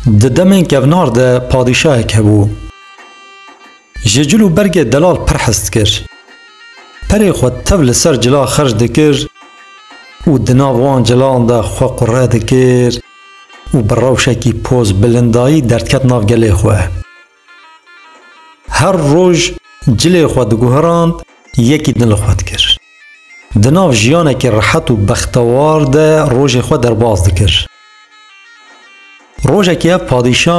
Di demên kevnar de padîşahek hebû. Ji cil û bergê delal pir hez dikir. Perê xwe tev li ser cila xerc dikir û di nav wan cilan de xwe qure dikir û bi rewşekî poz bilindayî derdket nav gelê xwe. Her roj cilê xwe diguhirand, yekî din li xwe dikir. Di nav jiyanekî rehet û bextewar de rojê xwe derbas dikir. Rojekî ev padîşa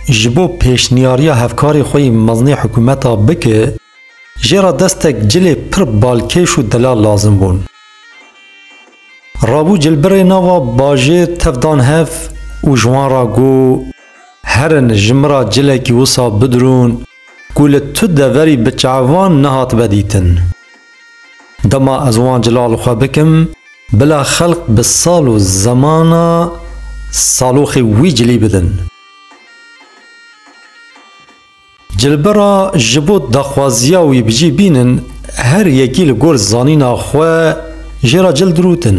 ji bo pêşniyariya hevkarê xwe yê meznê hikûmeta bike, jê re destek cilê pir balkêş û delal lazim bûn. Rabû cilbirê nava bajêr tev dan hev û ji wan re got. Herin ji min ra cilekî wisa bidirûn ku li tu deverî bi çavan nehatibe dîtin. Dema ez wan cila li xwe bikim, bila xelk bi sal û zemana saloxê wî cilî bidin. Cilbira ji bo daxwaziya wî bi cî bînin, her yekî li gor zanîna xwe jê re cil dirûtin.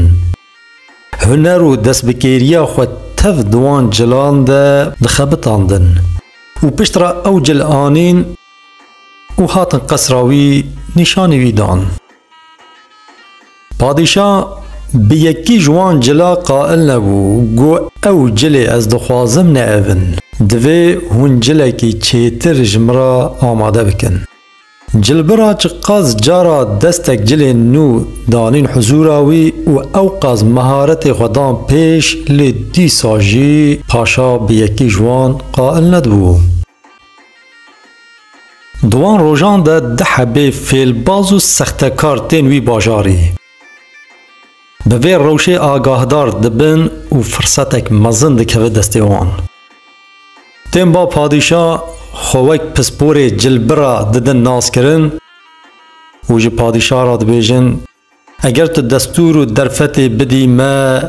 Huner û destbikêriya xwe tev di wan cilan de dixebitandin û piştre ew cil anîn û hatin qesra wî nîşanî wî dan. Padîşa bi yekî ji wan cila qail nebû gu ew cilê ez dixwazim ne ev in, divê hûn cilekî çêtir ji min re amade bikin. Cilbira çi qas cara destek cilê nû danîn huzûra wî û ewqas meharetê xwe dan pêş lê dîsa jî paşa bi yekî ji wan qail nedibû. Di wan rojan de di hebê fêlbaz û sextekar tên wî bajarî. Bi vê rewşê agahdar dibin û firsetek mezin dikeve destê wan. Tên ba padîşa xwe wek pisporê cilbira didin naskirin û ji padîşa re dibêjin, Eger tu destûr û derfetê bidî me,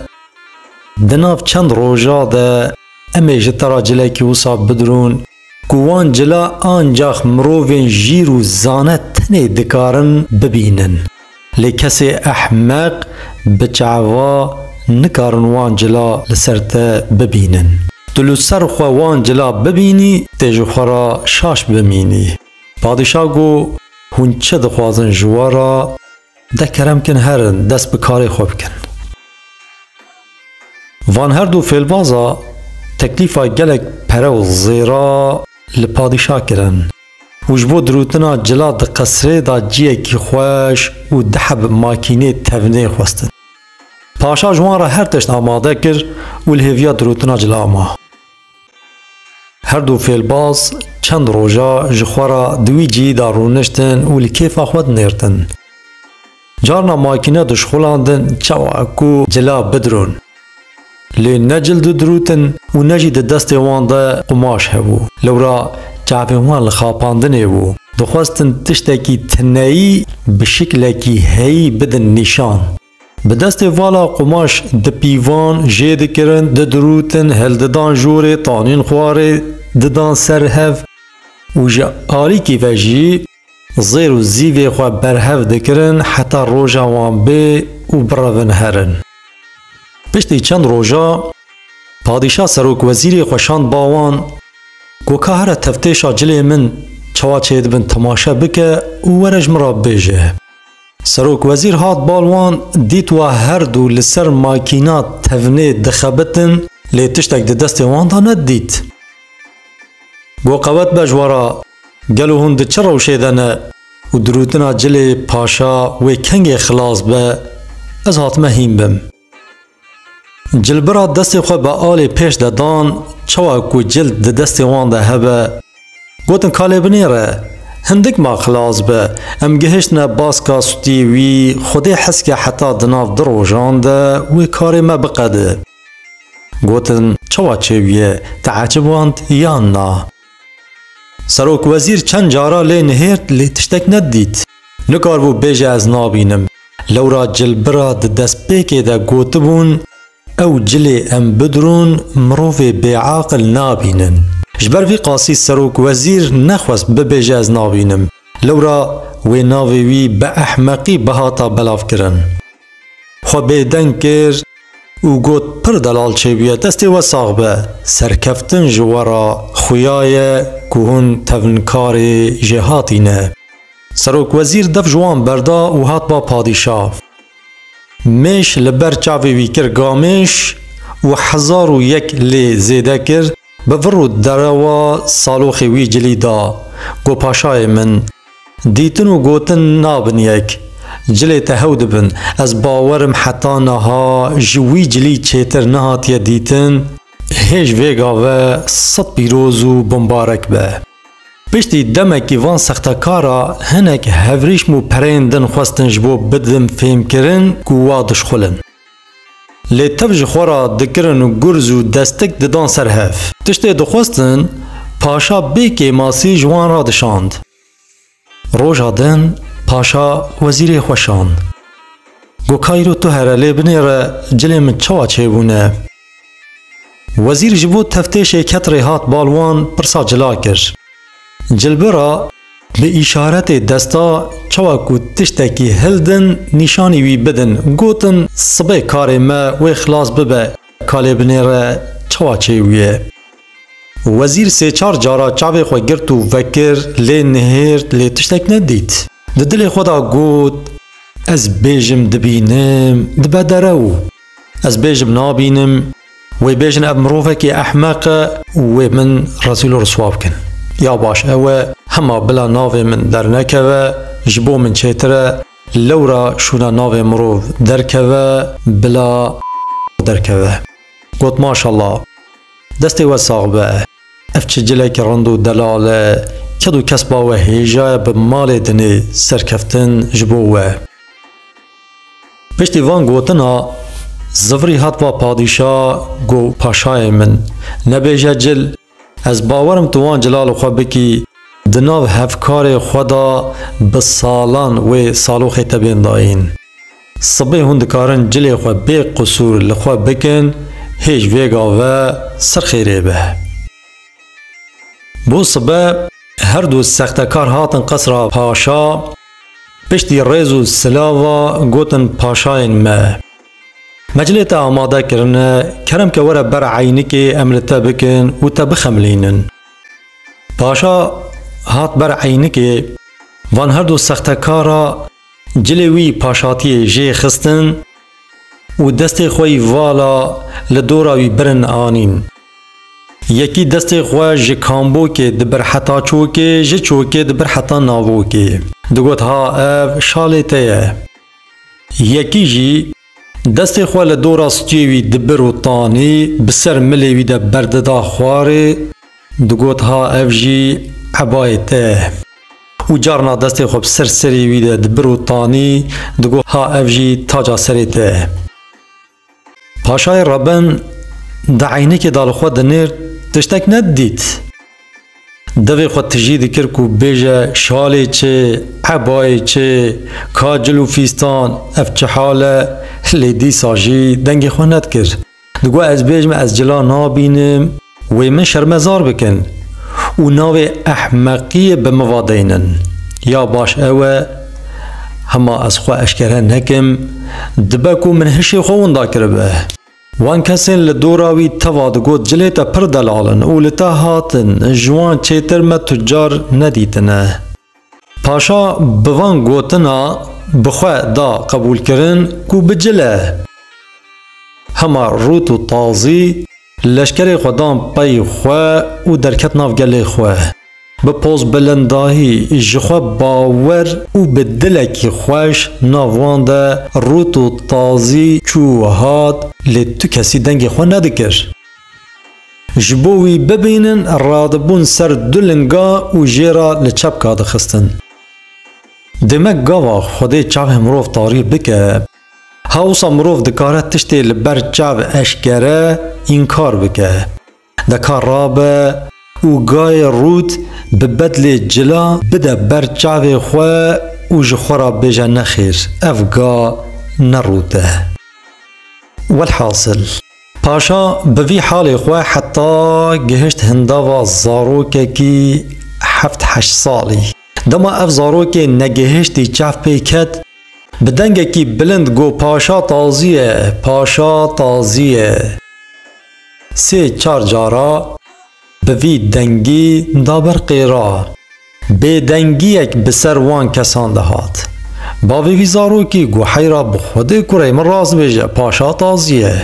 di nav çend roja de em ê ji te re cilekî wisa bidirûn. Ku wan cila ancax mirovên jîr û zane tenê dikarin bibînin. Lê kesê ehmeq, biçava nikarin wan cila li ser te bibînin. Tu li ser xwe wan cila bibînî tê ji xwe re şaş bimînî. Padîşah got, Hûn çi dixwazin ji we re? De kerem kin herin dest bi karê xwe bikin. Van her du fêlbaza teklîfa gelek pere û zêra li padîşah kirin û ji bo dirûtina cila di qesrê de ciyekî xweş û diheb makînê tevnê xwestin. Paşa ji wan re her tişt amade kir û li hêviya dirûtina cila ma. Her du fêlbaz çend roja ji xwe re di wî cihî de rûniştin û li kêfa xwe dinêrtin. Carna makîne dişxulandin çawa ku cila bidirûn. Lê ne cil didirûtin û ne jî di destê wan de qumaş hebû. Lewra çavên wan li xapandinê bû. Dixwestin tiştekî tineyî bi şiklekî heyî bidin nîşan. Bi destê vala qumaş di pîvan jê dikirin, didirûtin, hildidan jorê, tanîn xwarê didan ser hev û ji alîkî ve jî zêr û zîvê xwe berhev dikirin heta roja wan bê û birevin herin. Piştî çend roja padîşa serokwezîrê xwe şand ba wan ku ka here tevtêşa cilê min çawa çêdibin temaşe bike û were ji min re bibêje. Serokwezîr hat bal wan, dît wa her du li ser makîna tevnê dixebitin lê tiştek di destê wan de nedît. Got qewet be ji we re, gelo hûn di çi rewşê de ne û dirûtina cilê paşa wê kengê xilas be, ez hatime hîn bim. Cilbira destê xwe bi alê pêş de dan, çawa ku cild di destê wan de hebe. Gotin ka lê binêre. Hindik ma xilas be. Em gihiştine baska stûyê wî, Xwedê hezke heta di nav du rojan de wê karê me biqede. Gotin, çawa çêbûye, te eciband yan na? Serokwezîr çend cara lê nihêrt lê tiştek nedît. Nikaribû bêje ez nabînim. Lewra cilbira di destpêkê de gotibûn, Ew cilê em bidurûn mirovê bêaqil nabînin. Ji ber vî qasî serokwezîr nexwest bibêje ez nabînim. Lewra wê navê wî bi ehmeqî bihata belavkirin. Xwe bêdeng kir û got pir delal çêbûye destê we sax be. Serkeftin ji we re xuya ye ku hûn tevnkarê jêhatî ne. Serokwezîr dev ji wan berda û hat ba padîşah. Mêş li ber çavê wî kir gamêş û hezar û yek lê zêde kir, bi vir û derewa saloxê wî cilî da, Got paşayê min, Dîtin û gotin nabin yek. Cilê te hew dibin. Ez bawer im heta niha ji wî cilî çêtir nehatiye dîtin. Hêj vê gave sed pîroz û bimbarek be. Piştî demekî van sextekara hinek hevrîşm û pereyên din xwestin ji bo bidin fêmkirin ku wa dişxulin. Lê tev ji xwe re dikirin û gurz û destik didan ser hev. Tiştê dixwestin, paşa bê kêmasî ji wan re dişand. Roja din paşa wezîrê xwe şand. Got kayro tu here lê binêre cilên min çawa çêbûne. Wezîr ji bo teftêşê ket rê hat bal wan pirsa cila kir. Cilbira bi îşaretê desta çawa ku tiştekî hildin nîşanî wî bidin, gotin sibê karê me wê xilas bibe ka lê binêre çawa çêbûye. Wezîr sê çar cara çavê xwe girt û vekir lê nihêrt lê tiştek nedît. Di dilê xwe de got, Ez bêjim dibînim dibe derew. Ez bêjim nabînim wê bêjin ev mirovekê ehmeq e û wê min rezîl û riswa bikin. Ya baş ew e hema bila navê min dernekeve ji bo min çêtir e lewra şûna navê mirov derkeve bila derkeve. Got maşalla. Destê we sax be. Ev çi cilekî rind û delal e. Kedû kesba we hêjaye bi malê dinê serkeftin ji bo we. Piştî van gotina zivirî hat va padîşa go paşayê min nebêje cil ez bawerim tu wan cilal xwe bikî di nav hevkarê xwe da bi salan wê saloxê te bên dayîn. Sibê hûn dikarin cilê xwe bê qisûr li xwe bikin hêj vêga ve sirxêrê be. Bo sibe her du sextekar hatin qesra paşa, piştî rêz û sila va gotin paşayên me. Me cilê te amade kirine, kerem ke were ber eynikê em li te bikin û te bixemilînin. Paşa hat ber eynikê, van her du sextekara Cilê wî paş hatiye jê xistin û destê xwe yî vala li dora wî birin anîn. Yekî destê xwe ji kambokê dibir heta çokê, ji çokê dibir heta navokê. Digot ha ev şalê te ye. Yekî jî. Destê xwe li dora stûyê wî dibir û tanî bi ser milê wî de berdida xwarê, digot ha ev jî ebayê te ye. Û carna destê xwe bi ser serê wî de dibir û tanî, digot ha ev jî taca serê te ye. Paşayê Rebin di eynikê de li xwe dinêrt, tiştek nedidît. Divê xwe tijî dikir ku bêje şalê çi, ebayê çi, ka cil û fîstan, ev çi hal e, lê dîsa jî dengê xwe nedikir. Digot ez bêjim ez cila nabînim, wê min şermezar bikin û navê ehmeqiyê bi min ve deynin. Ya baş ew e, hema ez xwe eşkere nekim, dibe ku min hişê xwe winda kiribe. Wan kesên li dora wî teva digot cilê te pir delal in û li te hatin, ji wan çêtir me tucar nedîtine. Paşa bi van gotina bi xwe da qebûlkirin ku bi cile. Hema rût û tazî leşkerê xwe dan pey xwe û derket nav gelê xwe. Bi pozbilindahî, ji xwe bawer û bi dilekî xweş nav wan de rût û tazî çû û hat, lê tu kesî dengê xwe nedikir. Ji bo wî bibînin radibûn ser du linga û jê re li çepka dixistin. Dê me gava Xwedê çavên mirov tarî bike. Ha wisa mirov dikare tiştê li ber çav eşkere, înkar bike. Deka rabe û gayê rût bi bedlê cila bide ber çavê xwe û ji xwe re bêje nexêr ev ga ne rût e. Welhasil, paşa bi vî halê xwe heta gihişt hindava zarokekî heft heşt salî. Dema ev zarokê negihiştî çav pê ket, bi dengekî bilind got, Paşa tazî ye, paşa tazî ye. Sê çar cara bi vî dengî da ber qêra. Bêdengiyek bi ser wan kesan de hat. Bavê vî zarokî got heyra bi Xwedê kurê min rast bêje paşa taziye.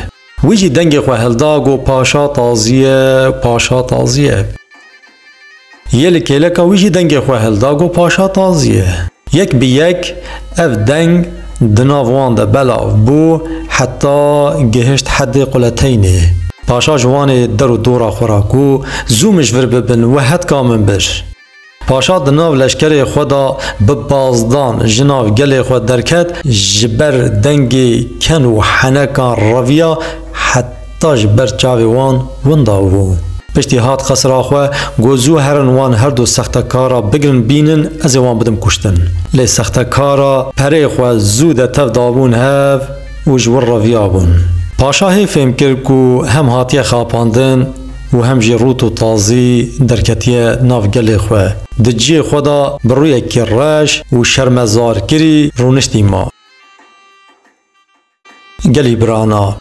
Wî jî dengê xwe hilda got paşa taziye, paşa taziye. Yê li kêleka wî jî dengê xwe hilda got paşa taziyê. Yek bi yek ev deng di nav wan de belav bû heta gihişt heddê quleteynê. Paşa ji wan ê der û dora xwe ra ku zû mij vir bibin we hetka min bir. Paşa di nav leşkerê xwe de bi bazdan ji nav gelê xwe derket ji ber dengê ken û henekan reviya heta ta ji ber çavê wan winda bû. Piştî hat qesra xwe, got zû herin wan her du sextekara bigirin bînin ez ê wan bidim kuştin. Lê sextekara perê xwe zû de tev dabûn hev û ji wir re viyabûn. Paşa hê fêm kir ku hem hatiye xapandin û hem jî rût û tazî derketiye nav gelê xwe. Di ciyê xwe de bi rûyekî reş û şermezarkirî rûniştî ma. Gelî birana.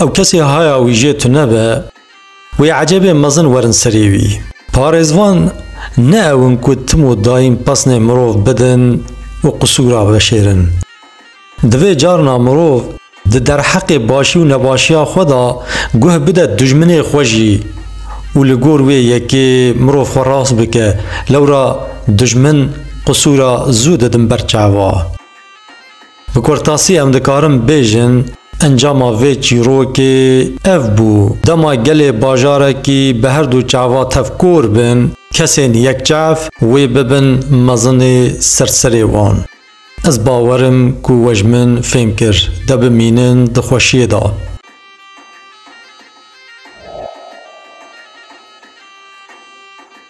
Ew kesê haya wî jê tune be, wê ecebê mezin werin serê wî. Parêzvan ne ew in ku tim û dayîn pesnê mirov bidin û qisûra veşêrin. Divê carina mirov di derheqê başî û nebaşiya xwe de guh bide dijminê xwe jî û li gor wê yekê mirov xwe rast bike, lewra dijmin qisûra zû didin ber çava. Bi kurtasî em dikarin bêjin encama vê çîrokê ev bû, dema gelê bajarekî bi her du çava tevkor bin, kesên yekçev wê bibin mezinê ser serê wan. Ez bawerim ku we ji min fêm kir, de bimînin di xweşiyê de.